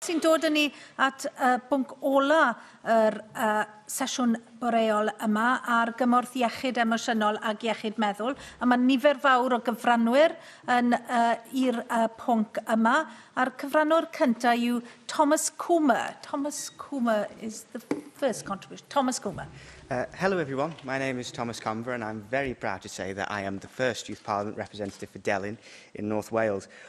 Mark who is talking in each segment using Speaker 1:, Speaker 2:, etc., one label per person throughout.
Speaker 1: Sy'n dod â ni at y bwnc ola yr uh, sesiwn boreol yma ar gymorth iechyd emosiynol ac iechyd meddwl. A mae nifer fawr o gyfranwyr yn uh, i'r uh, pwnc yma. A'r cyfranwr cyntaf yw Thomas Coomer. Thomas Coomer is the first contribution. Thomas Coomer. Uh, hello everyone,
Speaker 2: my name is Thomas Conver and I'm very proud to say that I am the first Youth Parliament representative for Delyn in North Wales.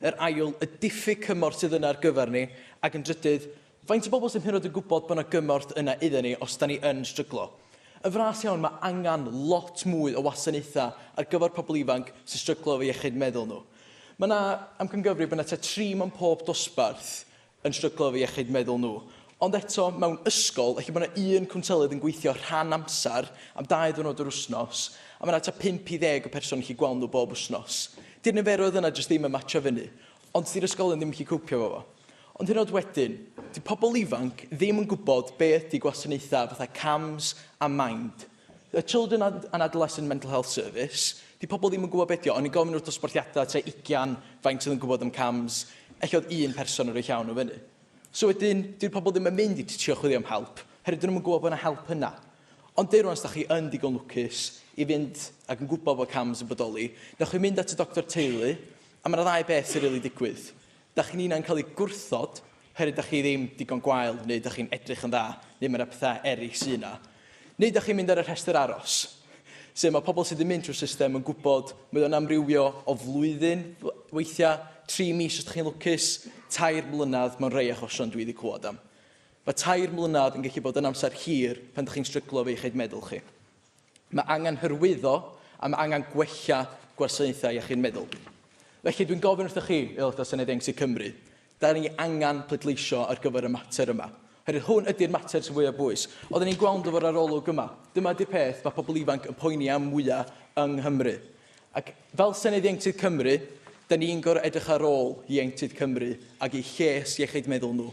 Speaker 3: Yr ail, y diffyg cymorth sydd yna ar gyfer ni, ac yn drydydd, faint o bobl sydd hyd yn oed yn gwybod bod yna gymorth yna iddyn ni os 'da ni yn stryglo. Yn fras iawn, mae angen lot mwy o wasanaethau ar gyfer pobl ifanc sy'n stryglo efo iechyd meddwl nhw. Mae yna amcangyfrif bod yna tua tri mewn pob dosbarth yn stryglo efo iechyd meddwl nhw. Ond eto, mewn ysgol, ella bod yna un cwnselydd yn gweithio rhan amser am dau ddiwrnod yr wythnos, a mae yna tua pump i ddeg o person yn gallu gweld nhw bob wythnos. Di'r niferoedd yna jyst ddim yn matsio fyny. Ond di'r ysgolion ddim yn gallu cowpio efo fo. Ond hyd yn oed wedyn, dyw pobl ifanc ddim yn gwybod be ydy gwasanaethau fatha CAMHS a mind. The Children and Adolescent Mental Health Service. Di pobl ddim yn gwybod beth yw, o'n i'n gofyn wrth dosbarthiadau tua 20 faint oedd yn gwybod am CAMHS, ella oedd un person yn rhoi llaw nhw fyny. So wedyn, dy'r pobl ddim yn mynd i ti trio chwilio am help, herwydd dyn nhw'n gwybod bod yna help yna. Ond deir rwan, os da chi yn digon lwcus i fynd ac yn gwybod bod CAMHS yn bodoli, newch chi mynd at y doctor teulu, a mae yna ddau beth sy'n rili really digwydd. Dach chi'n unai'n cael ei gwrthod oherwydd dach chi ddim digon gwael neu dach chi'n edrych yn dda neu mae yna pethau eraill sydd yna. Neu dach chi'n mynd ar y rhestr aros, sef mae pobl sydd yn mynd trwy'r system yn gwybod mae o'n amrywio o flwyddyn weithiau, tri mis os dach chi'n lwcus, tair mlynedd mewn rhai achosion dwi wedi clywed am. Mae tair mlynedd yn gallu bod yn amser hir pan dach chi'n stryglo efo iechyd meddwl chi. Mae angen hyrwyddo a mae angen gwella gwasanaethau iechyd meddwl. Felly dwi'n gofyn wrthych chi, Aelodau Senedd Ieuenctid Cymru, da ni angen pleidleisio ar gyfer y mater yma. Herwydd hwn ydy'r mater sy'n fwyaf bwys. Oedden ni'n gweld efo'r arolwg yma. Dyma ydy'r peth mae pobl ifanc yn poeni am mwyaf yng Nghymru. Ac fel Senedd Ieuenctid Cymru, da ni'n gorau edrych ar ôl Ieuenctid Cymru ac i lles iechyd meddwl nhw.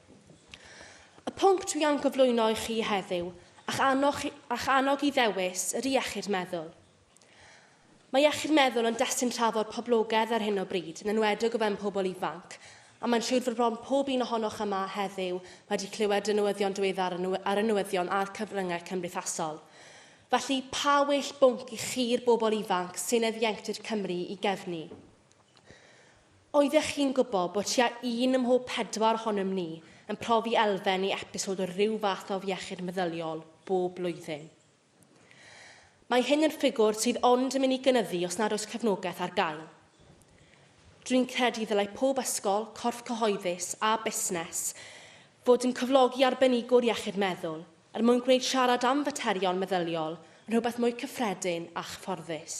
Speaker 4: Y pwnc dwi am gyflwyno i chi heddiw, a'ch annog, a'ch annog i ddewis, yr iechyd meddwl. Mae iechyd meddwl yn destun trafod poblogaidd ar hyn o bryd, yn enwedig o fewn pobl ifanc, a mae'n siŵr fod bron pob un ohonoch yma heddiw wedi clywed y newyddion diweddar ar y newyddion a'r cyfryngau cymdeithasol. Felly, pa well bwnc i chi'r bobl ifanc sy'n ieuenctid Cymru i gefnu? Oeddech chi'n gwybod bod tua un ym mhob pedwar ohonom ni yn profi elfen neu episod o ryw fath o afiechyd meddyliol bob blwyddyn? Mae hyn yn ffigwr sydd ond yn mynd i gynyddu os nad oes cefnogaeth ar gael. Dwi'n credu ddylai pob ysgol, corff cyhoeddus a busnes fod yn cyflogi arbenigwr iechyd meddwl er mwyn gwneud siarad am faterion meddyliol yn rhywbeth mwy cyffredin a chyfforddus.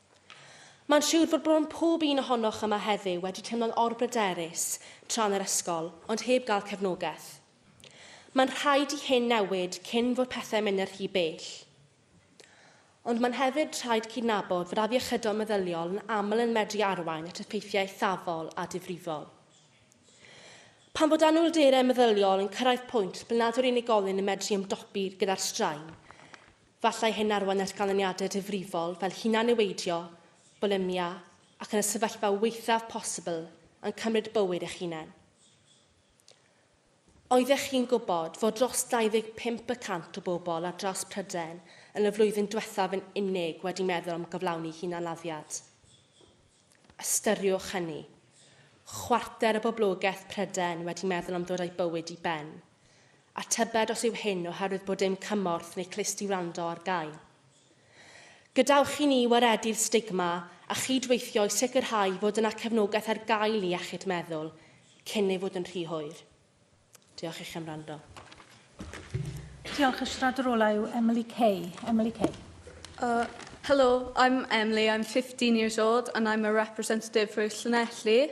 Speaker 4: Mae'n siwr fod bron pob un ohonoch yma heddiw wedi teimlo'n orbryderus tra'n yr ysgol, ond heb gael cefnogaeth. Mae'n rhaid i hyn newid cyn fod pethau'n mynd yn rhy bell. Ond mae'n hefyd rhaid cydnabod fod afiechydon meddyliol yn aml yn medru arwain at effeithiau eithafol a difrifol. Pan fod anhwylderau meddyliol yn cyrraedd pwynt ble nad yw'r unigolyn yn medru ymdopi gyda'r straen, Gallai hyn arwain at ganlyniadau difrifol fel hunan-niweidio, bwlimia, ac yn y sefyllfa waethaf posibl, yn cymryd bywyd eich hunain. Oeddech chi'n gwybod fod dros 25 y cant o bobl ar draws Prydain yn y flwyddyn diwethaf yn unig wedi meddwl am gyflawni hunanladdiad? Ystyriwch hynny, chwarter o boblogaeth Prydain wedi meddwl am ddod â'i bywyd i ben. a tybed os yw hyn oherwydd bod dim cymorth neu clust i wrando ar gael. Gadewch i ni waredu'r stigma a chyd-weithio i sicrhau fod yna cefnogaeth ar gael i iechyd meddwl cyn ei fod yn rhy hwyr. Diolch i chi am wrando. Diolch.
Speaker 1: Y siaradwr ola yw Emily Kay. Emily Kay. Uh, hello,
Speaker 5: I'm Emily, I'm 15 years old and I'm a representative for Llanelli.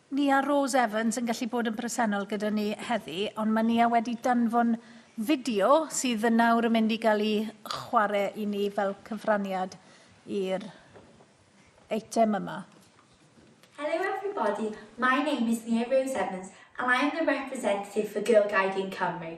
Speaker 1: Nia Rose Evans yn gallu bod yn bresennol gyda ni heddi, ond mae Nia wedi danfon fideo sydd yn nawr yn mynd i gael ei chwarae i ni fel cyfraniad i'r eitem yma. Hello everybody,
Speaker 6: my name is Nia Rose Evans and I am the representative for Girl Guiding Cymru.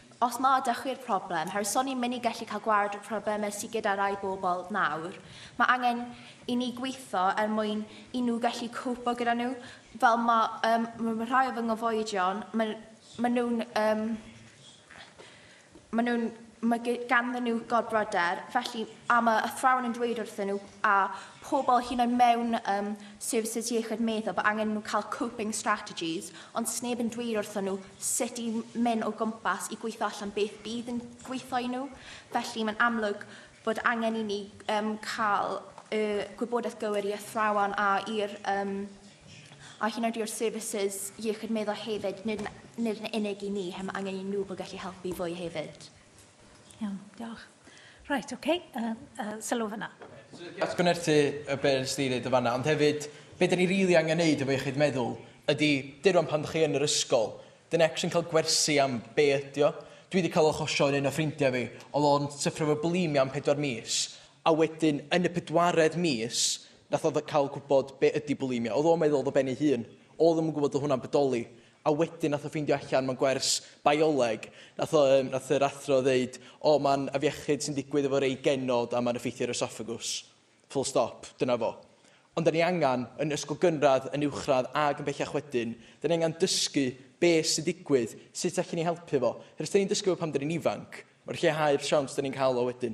Speaker 7: Os na ydych chi yw'r problem, herwydd so ni'n mynd i gallu cael gwared y problemau sydd gyda rai bobl nawr, mae angen i ni gweithio er mwyn i nhw gallu cwpo gyda nhw. Fel mae um, ma rhai o fy nghyfoedion, mae ma nhw'n um, ma nhw'n mae ganddyn nhw gorbryder, felly a mae athrawon yn dweud wrthyn nhw a pobl hyn oed mewn um, services iechyd meddwl bod angen nhw cael coping strategies, ond sneb yn dweud wrthyn nhw sut i mynd o gwmpas i gweithio allan beth bydd yn gweithio i nhw. Felly mae'n amlwg bod angen i ni um, cael y gwybodaeth gywir i athrawon a i'r um, a hyn oed i'r services iechyd meddwl hefyd, nid, nid yn unig i ni, hem angen i nhw bod
Speaker 1: gallu
Speaker 7: helpu fwy hefyd. Iawn,
Speaker 1: diolch. Reit, oce, okay. uh, uh, sylw fyna. Atgynerthu
Speaker 3: y be nes di ddeud y fanna, ond hefyd, be da ni rili really angen neud efo iechyd meddwl ydy duron pan ydych chi yn yr ysgol, dyn ex yn cael gwersi am be ydy o. Dwi wedi cael olchosion un o ffrindiau fi, oedd o'n syffro fo bulimia am pedwar mis, a wedyn yn y pedwaredd mis, nath oedd cael gwybod be ydy bulimia. Oedd o'n meddwl oedd o ben ei hun. Oedd yn gwybod oedd hwnna'n bodoli. a wedyn nath o ffeindio allan mewn gwers bioleg nath o yym nath yr athro ddeud o ma'n afiechyd sy'n digwydd efo rei genod a ma'n effeithio ar oesophagus. Full stop. Dyna fo. Ond 'da ni angan, yn ysgol gynradd, yn uwchradd ag yn bellach wedyn, 'da ni angan dysgu be' sy'n digwydd, sut allen ni helpu fo. Her os 'da ni'n dysgu fo pan 'da ni'n ifanc, ma'n lleihau'r siawns 'da ni'n ca'l o wedyn.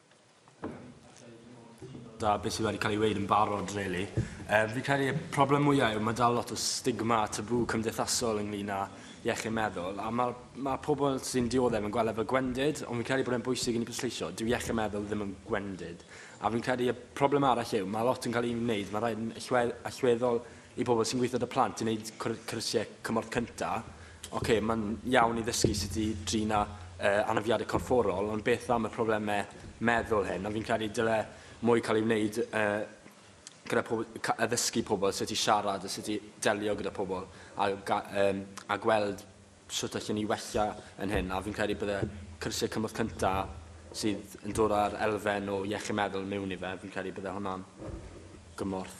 Speaker 8: da beth sydd wedi cael ei wneud yn barod, really. Um, fi credu y problem mwyaf yw mae dal lot o stigma a tabw cymdeithasol ynglyn â iechyd meddwl, a mae, mae pobl sy'n dioddef yn gweld efo gwendid, ond fi'n credu bod e'n bwysig i ni bwysleisio, dyw iechyd meddwl ddim yn gwendid. A fi'n credu y problem arall yw, mae lot yn cael ei wneud, mae rhaid yn allweddol i bobl sy'n gweithio dy plant i wneud cyrsiau cymorth cyntaf, Ok, mae'n iawn i ddysgu sut i drin â uh, anafiadau corfforol, ond beth am y problemau meddwl hyn? A fi'n credu dyle mwy cael ei wneud uh, gyda pobl, addysgu pobl sut i siarad a sut i delio gyda pobl a, um, a gweld sut allan ni wella yn hyn. A fi'n credu bydde cyrsiau cymorth cyntaf sydd yn dod â'r elfen o iechyd meddwl mewn i fe, fi'n credu bydde hwnna'n gymorth.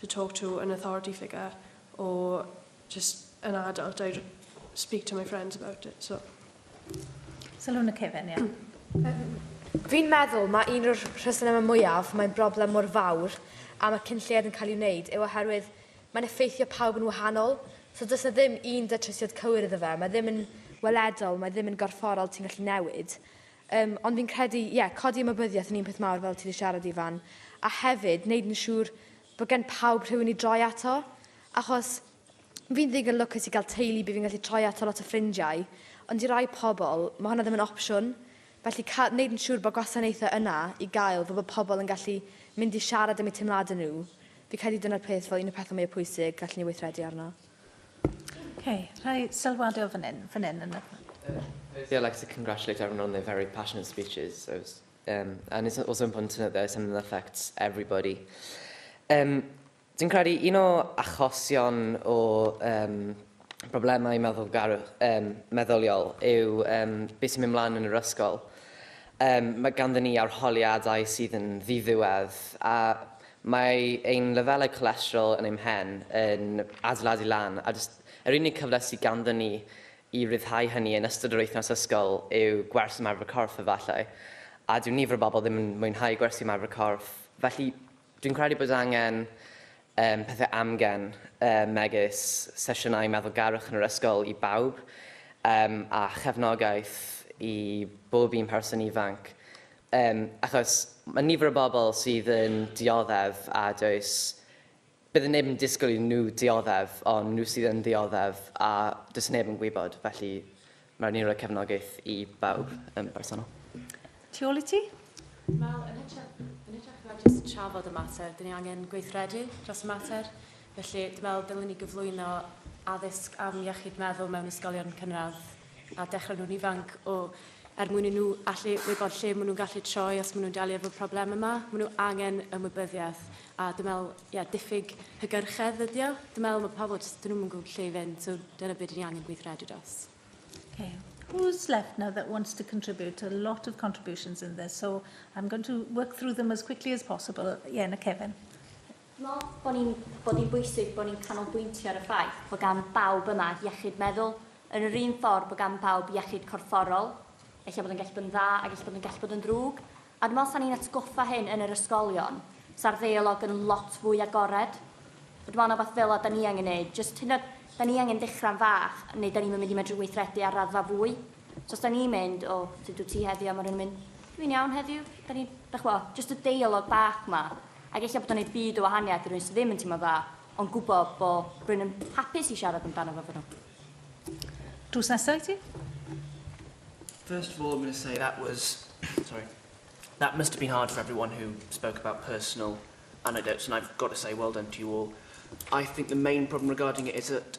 Speaker 9: to talk to an authority figure or just an adult I speak to my friends about it so
Speaker 1: Sylwn y cefn, ie. Fi'n
Speaker 10: meddwl mae un o'r rhesymau mwyaf mae'n broblem mor fawr am y cyn lled yn cael ei wneud yw oherwydd mae'n effeithio pawb yn wahanol. So does na ddim un datrysiad cywir iddo fe. Mae ddim yn weledol, mae ddim yn gorfforol, ti'n gallu newid. Yym, ond fi'n credu, ie, codi ymwybyddiaeth yn un peth mawr fel ti wedi siarad Ifan, a hefyd wneud yn siŵr bod gen pawb rhywun i droi ato, achos fi'n ddigon lwcus i gael teulu bydd fi'n gallu troi ato lot o ffrindiau, ond i rai pobl, mae hwnna ddim yn opsiwn. Felly, cael, wneud yn siŵr bod gwasanaethau yna i gael fel bod pobl yn gallu mynd i siarad am eu teimladau nhw, fi'n credu dyna'r peth fel un o'r pethau mwyaf pwysig gallen ni weithredu arno. Okay,
Speaker 1: rhai sylwade o fan hyn, fan hyn yn y... Firstly,
Speaker 2: I'd like to congratulate everyone on their very passionate speeches. I was, um, and it's also important to note that it's something that affects everybody. Um, Dwi'n credu un o achosion o um, broblemau meddylgarwch, um, meddyliol yw um, beth sy'n mynd mlaen yn yr ysgol. Um, mae ganddyn ni arholiadau sydd yn ddiddiwedd a Mae ein lefelau colesterol yn ein mhen yn adeiladu lan, a jyst yr unig cyfle sydd ganddon ni i ryddhau hynny yn ystod yr wythnos ysgol yw gwers ymarfer corff, efallai. A dyw nifer o bobl ddim yn mwynhau gwersi ymarfer corff, felly dwi'n credu bod angen um, pethau amgen, um, megis sesiynau meddwlgarwch yn yr ysgol i bawb, um, a chefnogaeth i bob un person ifanc. Yym, achos mae nifer o bobl sydd yn dioddef a does... bydd neb yn disgwyl iddyn nhw dioddef, ond nhw sydd yn ddioddef a does neb yn gwybod, felly mae rhaid ni roi cefnogaeth i bawb yn bersonol. Tu ôl i
Speaker 1: ti? Wel, yn
Speaker 4: hytrach, yn hytrach na jyst trafod y mater, dyn ni angen gweithredu dros y mater. Felly, dwi'n meddwl dylwn ni gyflwyno addysg am iechyd meddwl mewn ysgolion cynradd, a dechrau nhw'n ifanc o er mwyn i nhw allu wybod lle maen nhw'n gallu troi os maen nhw'n delio efo problem yma. Maen nhw angen ymwybyddiaeth a dwi'n meddwl, yeah, diffyg hygyrchedd ydy o. Dwi'n meddwl mae pobl jyst, dyn nhw'n yn gwybod lle i fynd, so dyna beth dyn ni angen gweithredu dros. Okay.
Speaker 1: Who's left now that wants to contribute? A lot of contributions in this, so I'm going to work through them as quickly as possible. Yeah, na Kevin. Meddwl bod
Speaker 11: ni'n bod hi'n bwysig bod ni'n canolbwyntio ar y ffaith bod gan bawb yma iechyd meddwl, yn yr un ffordd bod gan bawb iechyd corfforol. Ella bod o'n gallu bod yn dda ac ella bod o'n gallu bod yn ddrwg. A dwi'n meddwl os 'sa ni'n atgoffa hyn yn yr ysgolion, 'sa'r ddeialog yn lot fwy agored. A dwi'n meddwl na wbath fel 'na 'da ni angen neud, jyst hyd yn oed, 'da ni angen dechra'n fach, neu 'da ni'm yn mynd i medru weithredu ar raddfa fwy. So os 'da ni'n mynd, 'O, sut wyt ti heddiw? A ma' rhywun yn mynd, 'Dwi'n iawn heddiw. 'Da ni'n, dach ch'mo', jyst y deialog bach 'ma. Ac ella bod o'n neud byd o wahaniaeth i rywun sydd ddim yn teimlo'n dda, ond gwbo bo rywun yn hapus i siarad amdano fo efo nhw. Drws nesa i ti.
Speaker 12: First of all I'm going to say that was sorry that must have been hard for everyone who spoke about personal anecdotes and I've got to say well done to you all. I think the main problem regarding it is that